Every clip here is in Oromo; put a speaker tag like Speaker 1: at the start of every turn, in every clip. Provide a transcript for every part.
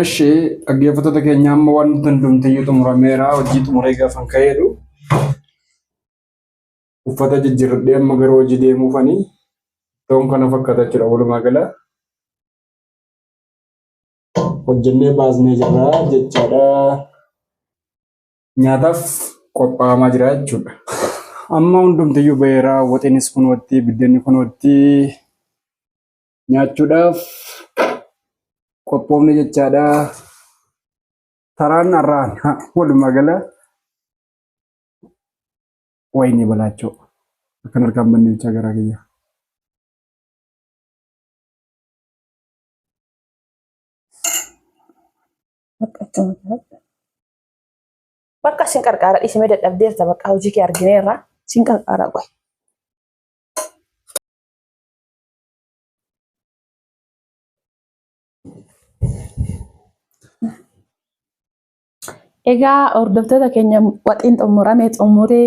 Speaker 1: እሺ dhaggeeffattoota keenya amma waan nuti hundumtiyyuu xumurameera hojii xumuree gaafan ka'eedhu uffata jijjiirradhee amma gara hojii deemuufanii ta'uun kana fakkaata jechuudha walumaa gala hojjennee baasnee jirra jechaadha nyaataaf qophaa'amaa jira jechuudha amma hundumtiyyuu ba'eera waxiinis kunootti biddeenni kunootti nyaachuudhaaf qophoofne jechaadha. Taraan har'aan walumaa gala wayinii balaachoo akkan harkaan banne bichaa garaa kiyya.
Speaker 2: Bakka sin qarqaara dhiisimee dadhabdeerta bakka hojii kee argineerra sin qarqaara qoy. Egaa hordoftoota keenya waxiin xumurame xumuree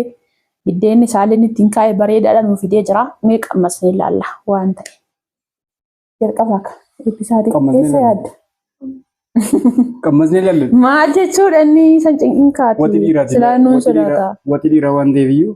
Speaker 2: biddeenni saaleen ittiin kaa'e bareedaadha nuuf fidee jira. Mee qammasnee ilaalla waan ta'e. Jalqaba akka eebbisaatii Qammasnee keessa ilaalla. yaadda. Qammasnee
Speaker 1: ilaalle. Maal jechuudha inni
Speaker 2: san cinqinqaati. Wati dhiiraati. Silaa nuun Wati dhiiraa- sodaata. Wati dhiiraa waan ta'eef
Speaker 1: iyyuu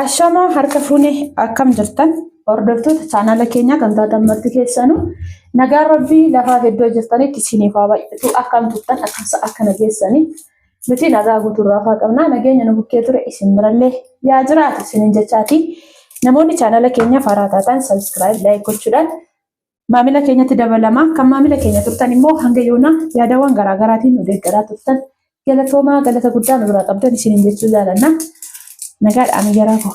Speaker 2: Ashamaa harka fuune akkam jirtan hordoftoota chaanala keenyaa kan taatan marti keessanu nagaan rabbii lafaaf iddoo jirtanitti isiniif haa baay'atu akkam turtan akkasa akkana geessanii nuti nagaa guutuurraa faa qabnaa nageenya nu bukkee ture isin birallee yaa jiraatu isinin jechaatii namoonni chaanala keenyaa faaraa taataan sabiskiraayib laayik gochuudhaan maamila keenyatti dabalama. Kan maamila keenya turtan immoo hanga yoonaa yaadawwan garaagaraatiin nu deeggaraa turtan galatoomaa galata guddaa nu biraa qabdan isiniin jechuu jaalanna. Nagaadhaan ayyaraa koo.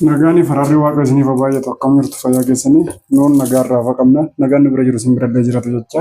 Speaker 1: Nagaan fararri waaqa isiniif baay'atu akkam jirtu fayyaa keessanii nuun nagaa irraa hafa qabna nagaan nu bira jiru isin bira illee jiratu jecha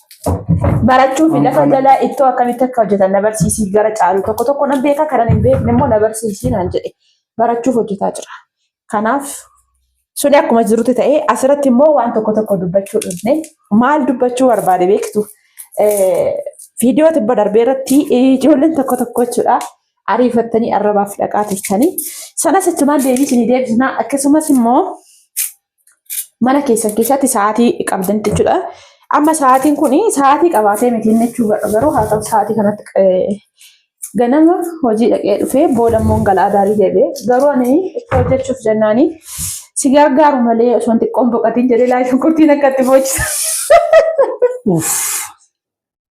Speaker 2: barachuuf lafa jalaa ittoo akkamitti akka hojjetan na barsiisii gara caalu tokko tokko nan beeka kanan hin beekne immoo na barsiisii naan jedhe barachuuf hojjetaa jira. Kanaaf suni akkuma jirutti ta'ee asirratti immoo waan tokko tokko dubbachuu dhufne maal dubbachuu barbaade beektu viidiyoo tibba darbee irratti ijoolleen tokko tokko jechuudha ariifattanii arrabaaf dhaqaa turtanii sanas achumaan deebii isinii deebisnaa akkasumas immoo mana keessan keessatti sa'aatii qabdan jechuudha. Amma sa'aatiin kun sa'aatii qabaatee miti inni jechuu garuu haa ta'u sa'aatii kanatti eh, ganama hojii dhaqee dhufee booda immoo galaa daarii deebi'ee garuu ani itti hojjechuuf jennaani si gargaaru malee osoo hin xiqqoon boqatiin jedhee laayii shunkurtiin akka itti boochisa. Uff.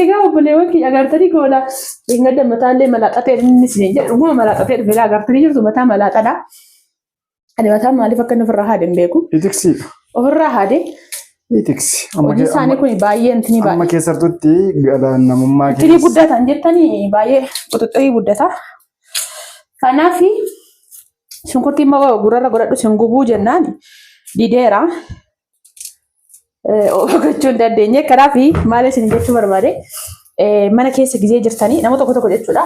Speaker 2: Egaa obboleewwan kiyya agartanii goola dhingada mataallee malaaxatee inni isin jedhu dhuguma malaaxatee dhufe egaa agartanii jirtu mataa malaaxadha. Ani mataan maaliif akka inni ofirraa haade hin beeku. Itiksiidha.
Speaker 1: Ofirraa haade
Speaker 2: Itiksi.
Speaker 1: hojii isaanii kun
Speaker 2: baay'ee intini Amma baay'ee. keessattutti
Speaker 1: galaan namummaa Xirii keessa. guddatan jettanii
Speaker 2: baay'ee quxuxirii guddata. Kanaaf shunkurtii immoo gurrarra godhadhu sin gubuu jennaan dideera. gochuu hin dandeenye. Kanaaf maal isin jechuu barbaade mana keessa gizee jirtanii nama tokko tokko jechuudha.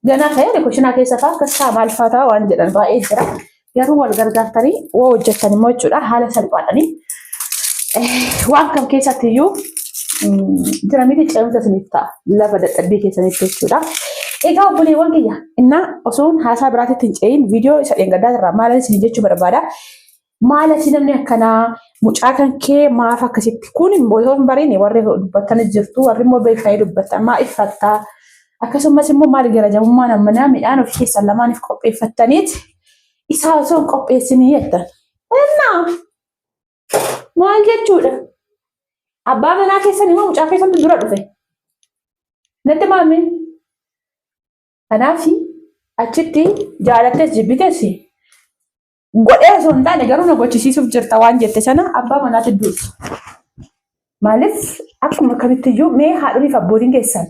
Speaker 2: Ganaa ta'ee kushinaa keessa fa'aa akkas ta'a maal fa'aa ta'a waan jedhan baay'ee jira. Garuu wal gargaartanii waa hojjettan immoo jechuudha haala salphaadhanii waan kam keessatti iyyuu jira miti ce'umsa isiniif ta'a lafa dadhabbii keessanitti jechuudha. Egaa obboleewwan kiyya innaa osoon haasaa biraatitti hin ce'in viidiyoo isa dheengaddaa irraa maalan isin jechuu barbaada. Maal asii namni akkanaa mucaa kan kee maaf akkasitti kun immoo yoo hin bariine warri dubbattan jirtu warri immoo beekanii dubbattan maa iffattaa akkasumas immoo maal garajamummaan ammanaa midhaan of keessan lamaaniif qopheeffattaniit isaa osoo hin qopheessinii jettan. Innaa maal jechuudha? Abbaa manaa keessan immoo mucaa keessantu dura dhufe. Natti maamee. Kanaaf achitti jaalattees jibbites godhee osoo hin taane garuu na gochisiisuuf jirta waan jette sana abbaa manaatti duutu. Maaliif akkuma kamittiyyuu mee haadholiif abbootiin keessan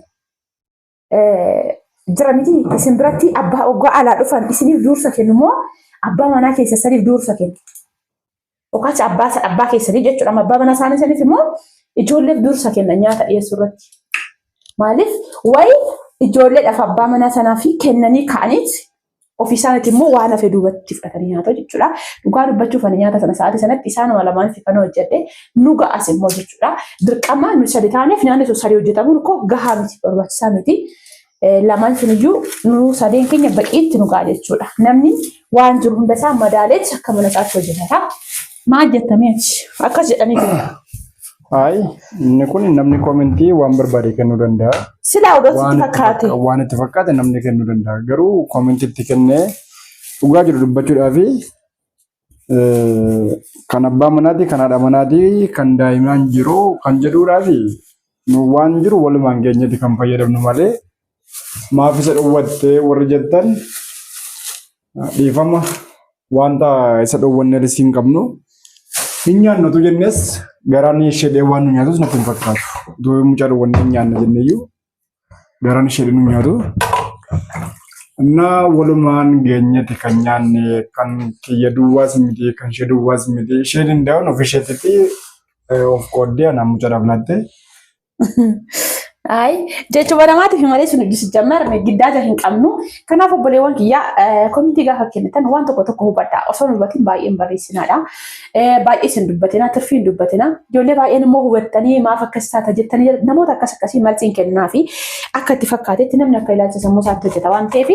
Speaker 2: jira miti isin biratti abbaa oggaa alaa dhufan isiniif duursa kennu moo abbaa manaa keessa saniif duursa kennu. Yookaas abbaa abbaa keessanii jechuudha abbaa manaa isaanii saniif immoo ijoolleef duursa kenna nyaata dhiyeessuu irratti. Maaliif wayi ijoolleedhaaf abbaa manaa sanaa fi kennanii ka'aniit ofii isaaniitti immoo waan hafe duubatti fudhatanii nyaatu jechuudha. Dhugaa dubbachuuf ani nyaata sana sa'aatii sanatti isaanuma lamaan fifana hojjedhe nu ga'as immoo jechuudha. Dirqama nu sadi taaneef nyaanni sun sadii hojjetamuun koo gahaa miti barbaachisaa miti. Lamaan sun iyyuu nu sadeen keenya baqiitti nu ga'a jechuudha. Namni waan jiru hunda isaa madaaleetti akka mana isaatti hojjetata. Maal jettamee akkas jedhanii jiru. Hayi
Speaker 1: inni kun namni koomentii waan barbaade kennuu danda'a. Silaa odoo sitti
Speaker 2: fakkaate. Waan itti fakkaate namni
Speaker 1: kennuu danda'a. Garuu koomentii itti kennee dhugaa jiru dubbachuudhaaf kan abbaa manaatii kan haadha manaatii kan daa'imaan jiru kan jedhuudhaaf nu waan jiru walumaan geenyeeti kan fayyadamnu malee maaf isa dhowwattee warri jettan dhiifama wanta isa dhowwanneetti siin qabnu hin nyaannatu jennes garaan ishee dhee waan nu nyaatus natti hin fakkaatu. Utuu mucaa dhowwannee hin nyaanna jenneyyuu garaan ishee dhee nu nyaatu. Innaa walumaan geenyetti kan nyaanne kan kiyya duwwaas miti kan ishee duwwaas miti ishee danda'uun of isheetitti of qooddee anaan mucaadhaaf laatte Ayi
Speaker 2: jechuma namaatiif malee sun hojii sijjammer giddaaja hin qabnu. Kanaaf obboleewwan kiyyaa komiitii gaafa kennitan waan tokko tokko hubadhaa. Osoo hin hubatin baay'een barreessinaadha. Baay'ees hin dubbatina, tirfii hin dubbatina. Ijoollee baay'een immoo hubattanii maaf akkas taata jettanii jedhu. namoota akkas akkasii marsiin kennaa fi akka itti fakkaatetti namni akka ilaalcha sammuu isaatti hojjeta waan ta'eef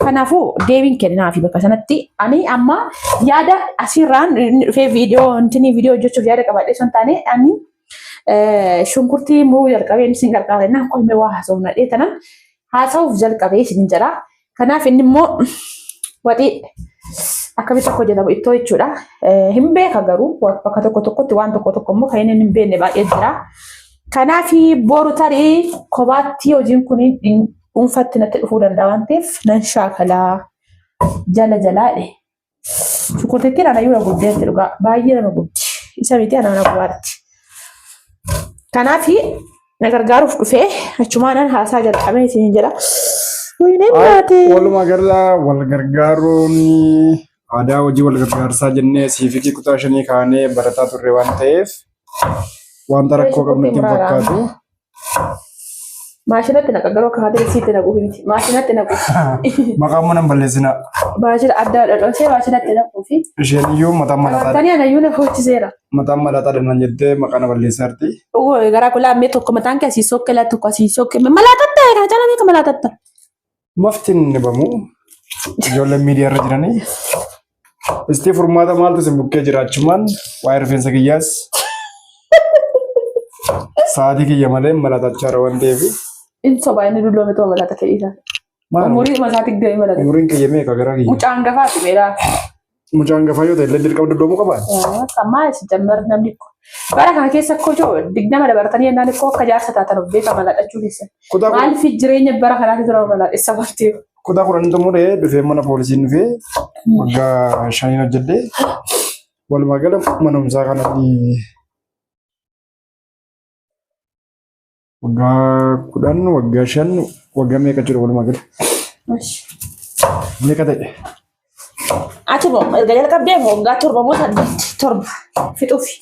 Speaker 2: kanaafuu deebiin kennaa fi bakka sanatti ani amma yaada asirraan inni dhufee viidiyoo intinii viidiyoo hojjechuuf yaada qabaadhee sun taane ani Shunkurtii muruu jalqabeen isin gargaara innaan qoyme waa haasofna dhee tanan haasa'uuf jalqabee isin jedha. Kanaaf inni immoo waxii akkamitti akka hojjetamu ittoo jechuudha. Hin beeka garuu bakka tokko tokkotti waan tokko tokko immoo kan inni hin beekne baay'ee jira. Kanaaf boru tarii kophaatti hojiin kun dhuunfatti natti dhufuu danda'a waan ta'eef nan shaakalaa jala jalaadhe. Shunkurtittiin anayyuu na gubdeetti dhugaa baay'ee nama gubdi. Isa miti ana na gubaatti. Kanaaf na gargaaruuf dhufee achumaanan haasaa jalqabee isin jedha. Wayineen nyaatee. Walumaa
Speaker 1: gala wal gargaaruun aadaa hojii wal gargaarsaa jennee siifikii kutaa shanii kaanee barataa turre waan ta'eef wanta rakkoo qabnu ittiin fakkaatu.
Speaker 2: Maashinatti naqa garuu akka haadha isiitti naqu himti. Maashinatti naqu. Maqaa mana hin
Speaker 1: balleessina. Baashira adda
Speaker 2: adda dhoosee baashirratti naquu fi Isheen iyyuu mataan
Speaker 1: malataa Tani anayyuu na hojjiseera.
Speaker 2: mataan malataa dhamnan
Speaker 1: jettee maqaa na balleessaarti. Uwe garaa kulaa
Speaker 2: mee tokko mataan kee asii sokke laa tokko asii sokke malaa tatta egaa jala beeka malaa tatta. mafti hin
Speaker 1: dhabamu. Ijoolleen miidiyaa irra jiranii. Istii furmaata maaltu isin bukkee jiraachumaan waa'ee rifeensa kiyyaas sa'aatii kiyya malee malatachaa irra waan ta'eef. Inni sobaa inni
Speaker 2: dulloome too malata ta'eesaa. Maal Umurii masaatiif deemee malata. umuriin kiyya meeqa gara kiyya?
Speaker 1: Mucaan gafaa dhibeeraa.
Speaker 2: Mucaan gafaa
Speaker 1: yoo ta'e illee dirqama duddoomuu qabaa? Ammaa si
Speaker 2: jammar namni ko. Bara kana keessa koo joo digdama dabartanii yennaan koo akka jaarsa taatan of beekaa malaadhachuu keessan. Kutaa kun- Maaliif jireenya bara kanaatti tura malaadhessa bartee? Kutaa kudhan xumuree
Speaker 1: dhufee mana poolisiin dhufee waggaa shaniin hojjedhee walumaa gala manumsaa kanatti Waggaa kudhan, waggaa shan, waggaa meeqa jiru walumaa gala? Meeqa ta'e?
Speaker 2: Ati moo erga jalqabdee moo waggaa torba moo saddeetti torba fixuufi.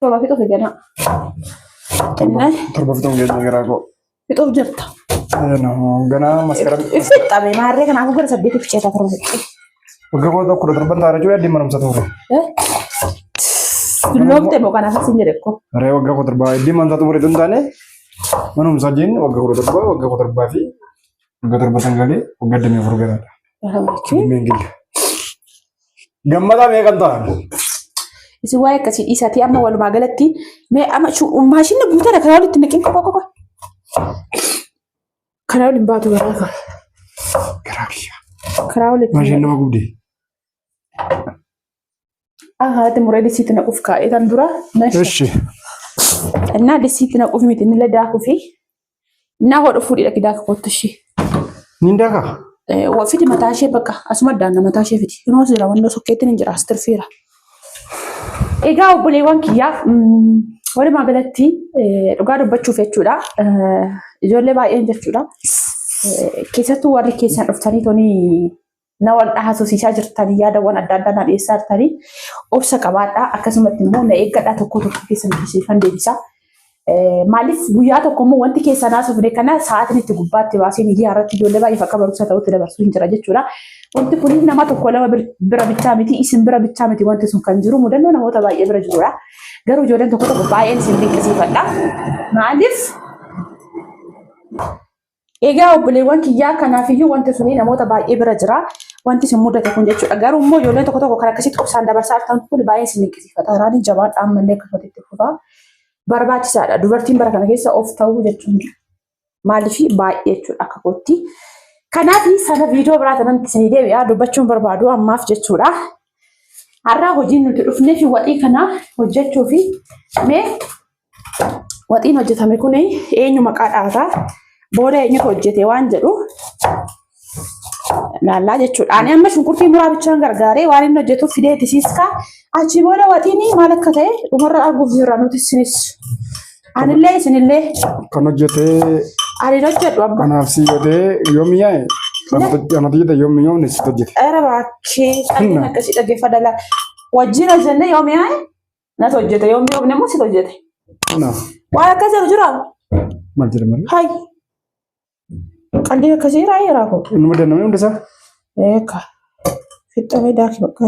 Speaker 2: Torba fixuufi ganaa. Torba Innaan
Speaker 1: torba fixuun geenya garaa koo. fixuuf jirta. Ganaa maskaram Ifixxame maarree
Speaker 2: kanaafuu gara saddeetiif ceeta torba fixxee. Waggaa kudha
Speaker 1: kudha torban taara jiru yaaddi manumsa tuure.
Speaker 2: Dulloomte moo kana fasin jedhe ko. Ree waggaa kudha torbaa yaaddi
Speaker 1: manumsa tuure tun taane manumsa jeen waggaa kudha torbaa waggaa kudha torbaa fi waggaa torba sangalee waggaa damee afur garaadha. Dimmeen gilla. Gammadaa meeqan ta'a? Isin
Speaker 2: waa'ee akkasii dhiisatii amma walumaa galatti mee amma maashinni guutan akka walitti naqin qofa qofa. Karaa waliin baatu garaa kan. Garaa
Speaker 1: kiyya. Karaa
Speaker 2: waliin. Maasheen nama gubde. Haati muree disiitti naquuf kaa'ee kan dura. Eshi. Innaa disiitti naquuf miti inni illee daakuu fi innaa hodhu fuudhidha ki daaka kottu ishee. Niin daaka?
Speaker 1: Fiti mataa
Speaker 2: ishee bakka asuma daanna mataa ishee fiti. Inoo seera wannoo sokkeetti ni jira astirfiira. Egaa obboleewwan kiyyaa walumaa galatti dhugaa dubbachuuf jechuudha. Ijoollee baay'een jechuudha. Keessattuu warri keessan dhuftanii tonii na wal dhahaasosiisaa jirtanii yaadawwan adda addaa na dhiyeessaa jirtanii obsa qabaadhaa akkasumatti immoo na eeggadhaa tokko tokko keessan dubbisiifan deebisaa. Maaliif guyyaa tokko immoo wanti keessan haasofne kana sa'aatiin itti gubbaatti baasee miidiyaa irratti ijoollee baay'eef akka barumsa ta'utti dabarsuu hin jira jechuudha. Wanti kun nama tokko lama bira bichaa miti isin bira bichaa miti wanti sun kan jiru mudannoo namoota baay'ee bira jirudha. Garuu ijoolleen tokko tokko baay'een isin dinqisiifadha. Maaliif Egaa obboleewwan kiyyaa kanaafiyyuu wanti suni namoota baay'ee bira jira. Wanti isin mudate kun jechuudha. Garuu immoo ijoolleen tokko tokko kan akkasitti obsaan dabarsaa jirtan kun baay'ee isin dinqisiifata. Raanii jabaadha ammallee akkasumatti itti fufaa. Barbaachisaadha. Dubartiin bara kana keessa of ta'uu jechuun maaliif baay'ee jechuudha akka kootti. Kanaaf sana viidiyoo biraa tanatti isin deebi'aa dubbachuun barbaadu ammaaf jechuudha. Har'aa hojiin nuti dhufnee fi waxii kana hojjechuu fi mee waxiin hojjetame kun eenyu maqaa dhaataa booda eenyutu hojjete waan jedhu laallaa jechuudha. Ani amma shunkurtii muraa bichaan gargaaree waan inni hojjetu fidee tisiiskaa achi booda waxiin maal akka ta'e dhumarra arguuf jirra nuti isinis. Anillee isinillee Kan hojjetee
Speaker 1: ani hojjedhu
Speaker 2: abba. kanaaf si godhee
Speaker 1: yoo mi'aaye kan hojjete yoo mi'oomne si hojjete. Era bakkee
Speaker 2: calleen akkasii dhaggeeffadha laa. Wajjin hojjennee yoo mi'aaye Nat hojjete yommuu yoomne immoo sit hojjete. Kanaaf
Speaker 1: Waan akkas jedhu jira.
Speaker 2: maal jedhama?
Speaker 1: Hay.
Speaker 2: Qalbii akkasii irraa yeraa koo. Inni madannamee hunda isaa
Speaker 1: Eeka.
Speaker 2: Fixxamee daakii bakka.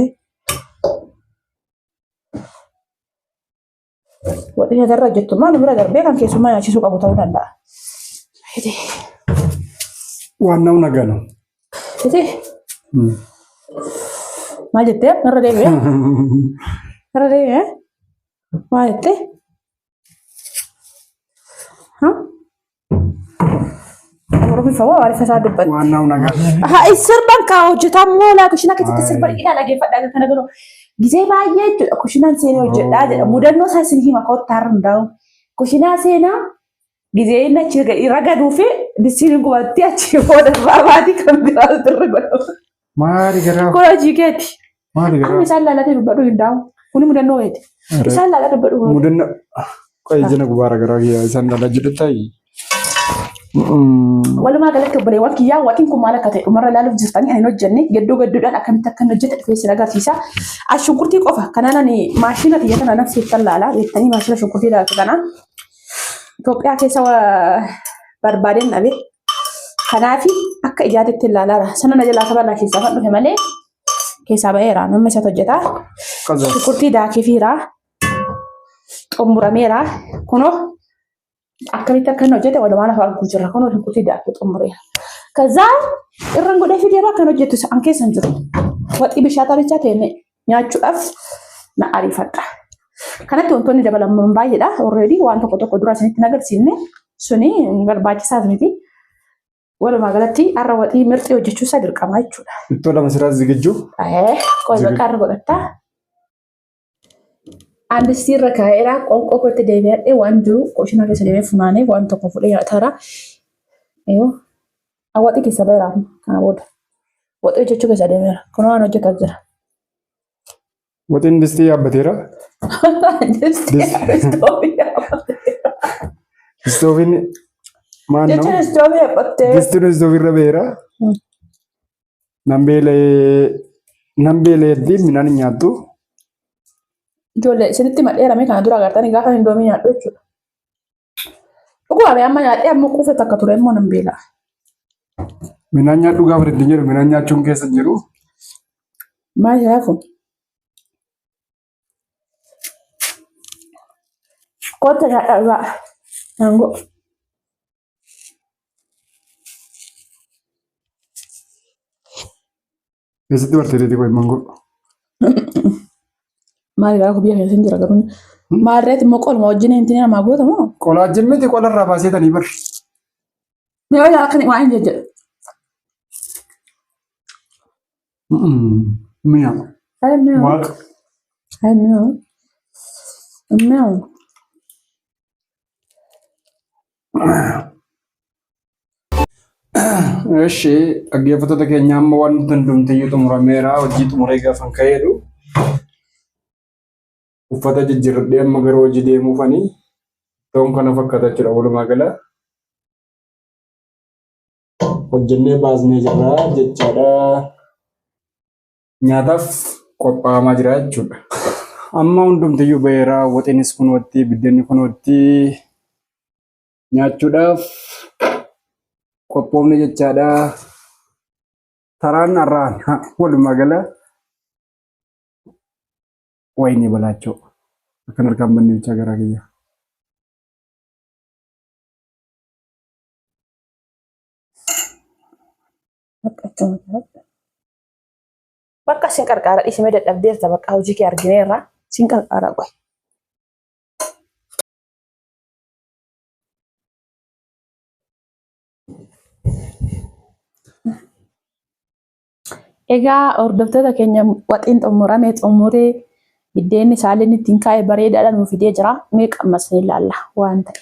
Speaker 2: Wadhi nyatarra hojjettu maal bira darbee kan keessummaa nyaachisuu qabu ta'uu danda'a. Hidee.
Speaker 1: waan nama nagana. Iti.
Speaker 2: Maal jettee? Narra deebi'e. Narra deebi'e. Maal jettee? Oromiffaa waa waarifa isaa dubbatti. Waan naaf nagaa.
Speaker 1: Haa sirban kaa
Speaker 2: hojjetaa moolaa kushina keessatti sirban hidhaa dhageeffadhaa kan kana godhu. Gisee baay'ee jechuudha kushinaan seenaa hojjedhaa jedha. Mudannoo isaa isin hima kottaa irra hundaa'u. Kushinaa seenaa Gizee inni achi ragaduu fi dissiin gubattee achi booda irraa baati kan biraa irra godhamu. Maali garaa?
Speaker 1: Kun hojii keeti.
Speaker 2: Maali garaa? Amma isaan
Speaker 1: laalatee dubbadhu hin
Speaker 2: daa'u. Kuni mudannoo keeti. Isaan laalatee dubbadhu. Mudannoo.
Speaker 1: Qoy jina gubaara garaa kiyyaa isaan laalaa jedhu ta'i.
Speaker 2: Walumaa galatti obboleewwan kiyyaa waxiin kun maal akka ta'e dhumarra ilaaluuf jirtanii kan hin hojjenne gadduu gadduudhaan akkamitti akka hin hojjete dhufee sin agarsiisa. As shunkurtii qofa kanaan ani maashina kiyya kana naf seettan laala jettanii maashina shunkurtii ilaaltu kana Itoophiyaa keessa barbaadeen dhabe. Kanaaf akka ijaatitti ilaalaara. Sana na jalaa kabarraa keessaa kan dhufe malee keessaa ba'eera. Namni isatti hojjetaa. Shukkurtii daakifiira. Xumurameera. Kunoo akkamitti akka inni hojjete walumaan afaan kun jira. Kunoo shukkurtii daakii xumureera. Kazaa irraan godhee fidee irraa kan hojjetu isaan keessa hin jiru. Waxii bishaataa bichaa ta'e nyaachuudhaaf na ariifadha. Kanatti wantoonni dabalaman baay'eedha. Already waan tokko tokko dura isinitti nagarsiifne suni barbaachisaas miti. Walumaa galatti har'a waxii mirxii hojjechuu isaa dirqama jechuudha. Ittoo lama siraa zigijju.
Speaker 1: Qoy bakka
Speaker 2: irra godhatta. Andistii irra kaa'eera qoonqoo kootti deebi'adhe waan jiru qoshina keessa deemee funaanee waan tokko fudhee nyaataara. Awwaxii keessa baheera amma kana booda. Waxii hojjechuu keessa adeemeera. Kun waan hojjetaa jira.
Speaker 1: Waxiin distii yaabbateera. Istoofiin maal Jechuun nama? istoofii yaabbattee.
Speaker 2: Distiin istoofiirra baheera.
Speaker 1: Nan beela'ee nan beela'eetti midhaan hin nyaattu.
Speaker 2: Ijoollee isinitti madheerame kana dura agartanii gaafa hin doomii nyaadhu jechuudha. Dhugaa bee amma nyaadhee amma quufe takka ture immoo nan beela.
Speaker 1: Minaan nyaadhu gaafa itti jedhu minaan nyaachuun keessa hin jiru.
Speaker 2: Maal jedhaa kun? Kootta nyaadhaa dhugaa. Naangoo.
Speaker 1: Eessatti bartee deetii qoy mangoo?
Speaker 2: Maali raa biyya keessa hin jira garuu. Maal reeti immoo qoluma
Speaker 1: wajjin
Speaker 2: hin tinee namaa
Speaker 1: goota
Speaker 2: moo? Qolaa jimmiti
Speaker 1: qola
Speaker 2: irraa baasee tanii bar. Yoo yaa kan waan hin jedhe. Mi'a. Ayi
Speaker 1: mi'oo. Waaqa. Ayi
Speaker 2: mi'oo. Mi'oo.
Speaker 1: እሺ dhaggeeffattoota keenya amma waan nuti hundumtiyyuu xumurameera hojii xumuree gaafan ka'eedhu uffata jijjiirradhee amma gara hojii deemuufani ta'uun kana fakkaata jechuudha walumaa gala hojjennee baasnee jirra jechaadha. nyaataaf qophaa'amaa jira jechuudha. Amma hundumtiyyuu ba'eera waxinis kunootti biddeenni kunootti nyaachuudhaaf qophoofne jechaadha. Taraan har'aan walumaa gala wayinii balaachoo akkan harkaan banne bichaa garaa kiyya.
Speaker 2: Akka Bakka sin qarqaara dhiisime dadhabdeerta bakka hojii kee argineerra sin qarqaara qoy. Egaa hordoftoota keenya waxiin xumurame xumuree biddeenni isaallee ittiin kaa'e bareedaadha nuuf fidee jira. Mee qammasnee ilaalla waan ta'e.